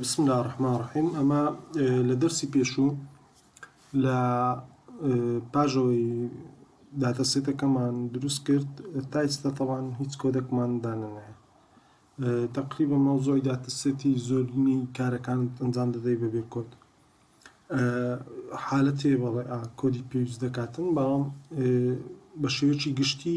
بسم اللە الرحمن الرحیم ئەمە لە دەرسی پێشوو لە پاژەوەی داتەسێتەکەمان دروست کرد تا ئێستا تەوان هیچ کۆدەکمان دانەنایە تقریبا مەوزۆی داتەسێتی زۆرینی کارەکان ئەنجام دەدەی بەبێ کۆد حالەتێ بەڵێ کۆدی پێویست دەکاتن بەڵام بە شێوەیەکی گشتی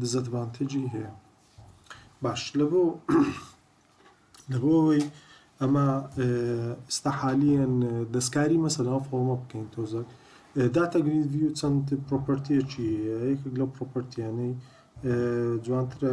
دزئەدڤانتێجی هەیە باش لەبۆ لەبۆ ئەوەی ئەمە ئستا حالیان دەستکاری مەسەلا فۆمە بکەین تۆزەک داتا گریدوی چەند پرۆپەرتیەکی یەکێک لەو پرۆپەرتیانەی جوانترە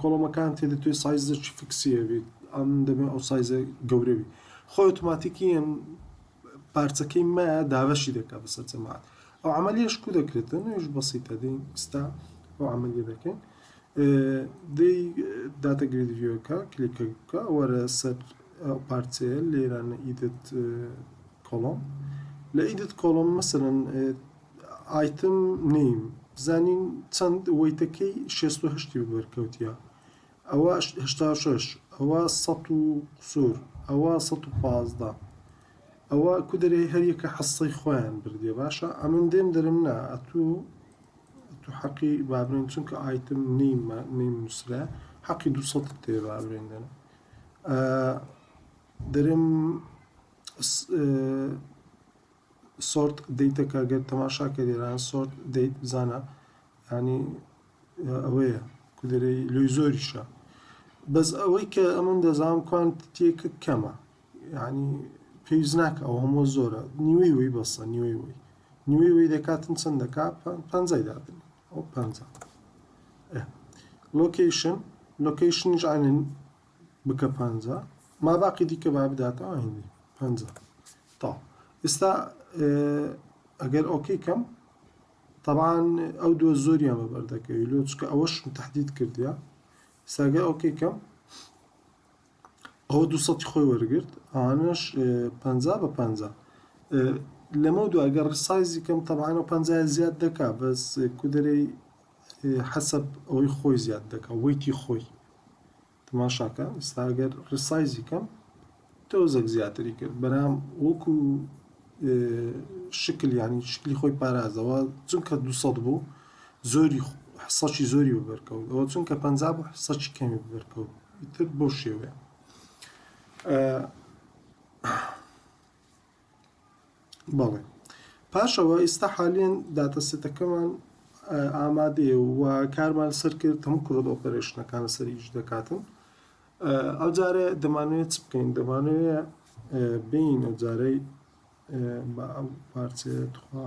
کۆڵۆمەکان تێدەتوێ سایزەکی فکسی هەبیت ئەم دەبێ ئەو سایزە گەورە بی خۆی ئۆتۆماتیکیەن پارچەکەی مە دابەشی دەکات بەسەر جەماعات ئەو عملیش کو دەکرێتە نوێش بەسیتە دەین ئستا ئەو عملی دەکەین دەی داتە گریدویەکە کلیکە بکە وەرە سەر پارچەیە لێرانە ئیدت کۆڵۆم لە ئیدت کۆڵۆم مەسەرن ئایتم نیم بزانین چەند وەیتەکەی شێست و هەشتی بەرکەوتیە ئەوە هەشتا و شەش ئەوە سەد و قسوور ئەوە سەد و پازدە ئەوە کو دەرێ هەریەکە حەسەی خۆیان بردیە باشە ئەمن دێم دەرم نا ئەتوو تو حەقی بابرێن چونکە ئایتم نیمە نیم نووسرا حەقی دو سەد تێ بابرێن دەن دەرم سۆرت دەیتە کە گەر تەماشا کە لێران سۆرت دەیت بزانە ینی ئەوەیە کودەێ لۆی زۆریشە بەس ئەوەی کە ئەمن دەزان کوانت تێکە کەمە ینی پێویست ناکە ئەو هەموو زۆرە نیوەی وی بەسە نیوەی وی نیوەی وی دەکاتن چەند دەکا پەنجای دادن ئەو پەنج لۆکیشن لۆکیشنیش عین بکە پەنجا ماباقی دیکە با بداتەوە هیندی پەنجا تا ئێستا ئەگەر ئۆکەی کەم طبعاان ئەو دووە زۆریان بە بەردەکەوی لۆ چکە ئەوەش تهدید کردیا ساگە ئۆکەی کەم ئەو دو سەی خۆی وەرگرت ئەوانش پ بە پ لەمە دو ئەگەر سایزی کەم تەبانە پ زیاد دەکا بەس کودەی حەسەب ئەوەی خۆی زیاد دەکا وەیتی خۆی تماشاکە ئستا ئەگەر ڕسایزی کەم تۆزەک زیاتری کرد بەرام وەکو شکل ینی شکلی خۆی پارازەوە چونکە دو بوو زۆری حسەکی زۆری بەرکەوت ئەوە چونکە پ بوو حسەکی کەمی بەرکەوت تر بۆ شێوێ بەڵێ پاشەوە ئیستا حالیەن داتا سێتەکەمان ئامادەیە و کارمان سەر کرد هەموو کرۆت ئۆپەرێشنەکان لەسەر ئیش دەکاتن ئەو جارە دەمانوێت چ بکەین دەمانوێ بین ئەو جارەی بە ئەم پارچەیە تخوا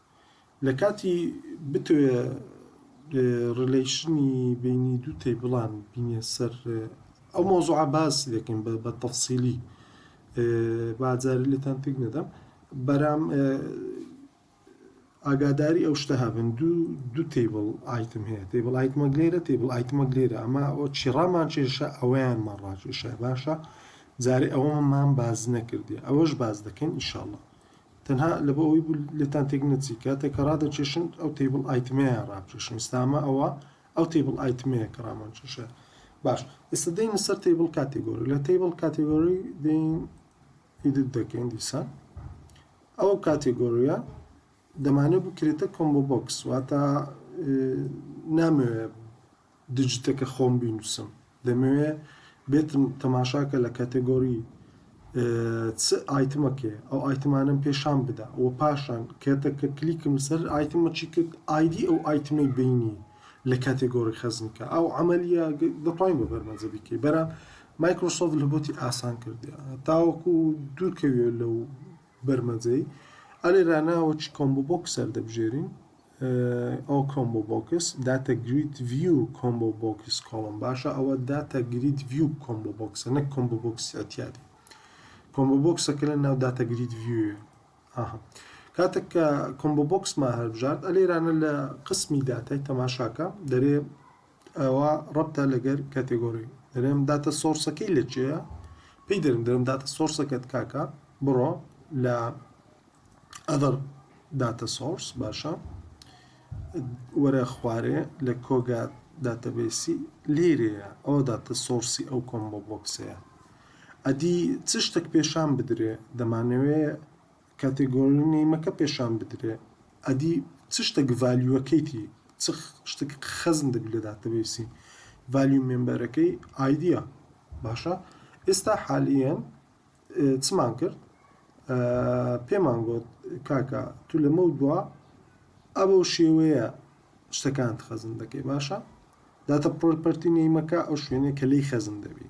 لە کاتی بتەوێ ڕیلەیشنی بەینی دوو تەیبڵان بینێ سەر ئەو مەوزوعە باس دەکەین بە تەفسیلی با جارێ لێتان تێک نەدەم بەرام ئاگاداری ئەو شتە هەبن دوو دوو تیبڵ ئایتم هەیە تیبڵ ئایتمە لێرە تیبڵ ئایتمە لێرە ئەمە ئەو چیڕامان چێشە ئەویان مەڕاکێشە باشە جارێ ئەوەمان باز نەکردێ ئەوەش باز دەکەین ئیشاڵە تەنها لەبۆ ئەوەی بوو لێتان تێک نەچی کاتێک کە ڕادەکێشن ئەو تیبڵ ئایتمەیان ڕابکێشن ئێستا ئەمە ئەوە ئەو تیبڵ ئایتمەیە کە ڕامان کێشە باش ئێستا دەینە سەر تیبڵ کاتێگۆری لە تیبڵ کاتێگۆری دەین ئیدت دەکەین دیسان ئەو کاتێگۆریە دەمانێت بکرێتە کۆمبۆ بۆکس واتە نامەوێت دجتەکە خۆم بینوسم دەمەوێ بێتم تەماشاکە لە کەتەگۆری چ ئایتمەکێ ئەو ئایتمانم پێشان بدە و پاشان کەتەکە کلیکم سەر ئایتمە چی کرد ئایدی ئەو ئایتمەی بینی لە کاتێگۆری خەزنکە ئەو عملیە دەتوانین بە بەرمەجە بیکەی بەرام مایکرۆسۆف لە بۆتی ئاسان کردی تاوەکو دوورکەوێ لەو برمجەی، ئەلی رانا و چ کۆمبۆ بۆکس هەلدەبژێرین؟ ئۆ کۆمبۆ بۆکس، داتە گرید ڤیو کۆمبۆ بۆکس کۆڵۆم باشە ئەوە داتە گرید ڤیو کۆمبۆ بۆکسە نەک کۆمبۆ بۆکسی ئەتیادی کۆمبۆ بۆکسەکە لە ناو داتە گرید ڤیوێ ئاها کاتەک کە کۆمبۆ بۆکسمان هەلبژارد ئەلی رانە لە قسمی داتای تەماشاکە دەرێ ئەوا ڕەبتە لەگەر کاتێگۆری دەرێم داتە سۆرسەکەی لە چێە پێی دەرم دەرم داتە سۆرسەکەت کاکە بڕۆ لە ئەدەر داتە سۆرس باشە وەرە خوارێ لە کۆگا داتەبێسی لێرەیە ئەوە داتە سۆرسی ئەو کۆمبۆ بۆکسەیە ئەدی چ شتێک پێشان بدرێ دەمانەوێ کاتێ گۆرن نەیمەکە پێشان بدرێ ئەدی چ شتەک ڤالیوەکەیتی چ شتەک خەزن دەبی لێ داتەبەیسی ڤالیو مێمبەرەکەی ئایدیا باشە ئێستا حالیەن چمان کرد پێمان گوت کاکە تو لەمە دوا ئەبە و شێوەیە شتەکان خەزن دەکەی باشە داتە پرۆپەرتی نەیمەکە ئەو شوێنێ کە لی خەزن دەبی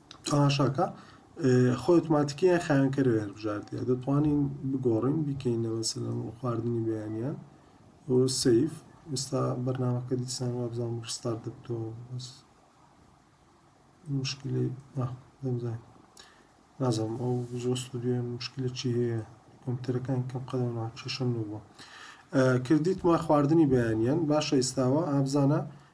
تەماشاکە، خۆی ئۆتۆماتیکی یان خاوێنکەرەوەی هەر بژاردەیە دەتوانین بگۆڕین بیکەینە مەسەلەن خواردنی بەیانیان و سەیف ئێستا بەرنامەکە دیسان وابزان ڕستار دەبتەوە بەس مشکلی دەمزان نازم ئەو زۆر ستودیۆ مشکلی چی هەیە کۆمپیوتەرەکان کەم قەدەم ناچەشم نەبووە کردیتمە خواردنی بەیانیان باشە ئێستاوە ئابزانە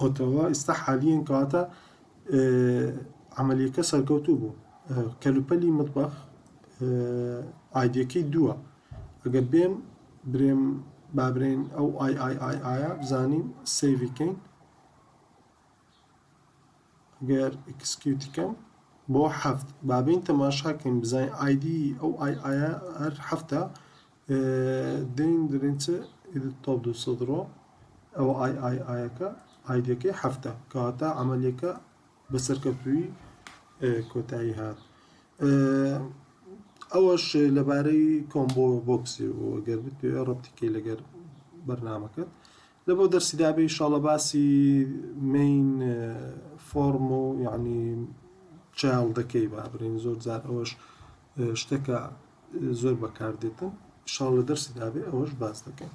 ئۆتەوا ئیستا حالیەن کەواتە عملیەکە سەرکەوتوو بوو کەلوپەلی مطبخ ئایدەکەی دووە ئەگەر بێم برێم بابرێن ئەو ئای ئای ئای ئایا بزانین سیڤکەین گەر ئکسکیوتیکەم بۆ هەفت بابین تەماشاکەین بزانین ئایدی ئەو ئای ئایا هەر هەفتە دەین درینچە ئیدت تۆپ دوو سەد ڕۆ ئەوە ئای ئای ئایەکە ئایدەکەی هەفتە کەواتە عملیەکە بە سەرکەوتووی کۆتایی هات ئەوەش لەبارەی کۆمبۆ بۆکسی و گەر بتوێ ڕەتیکەی لەگەر بەرنمەکەت لە بۆ دەرسی دابێ شاڵە باسی مین فۆرم و یعنی چاڵ دەکەی بابرین زۆر زار ئەوەش شتەکە زۆر بەکاردێتن شاڵ لە دەرسی دابێ ئەوەش باس دەکەین.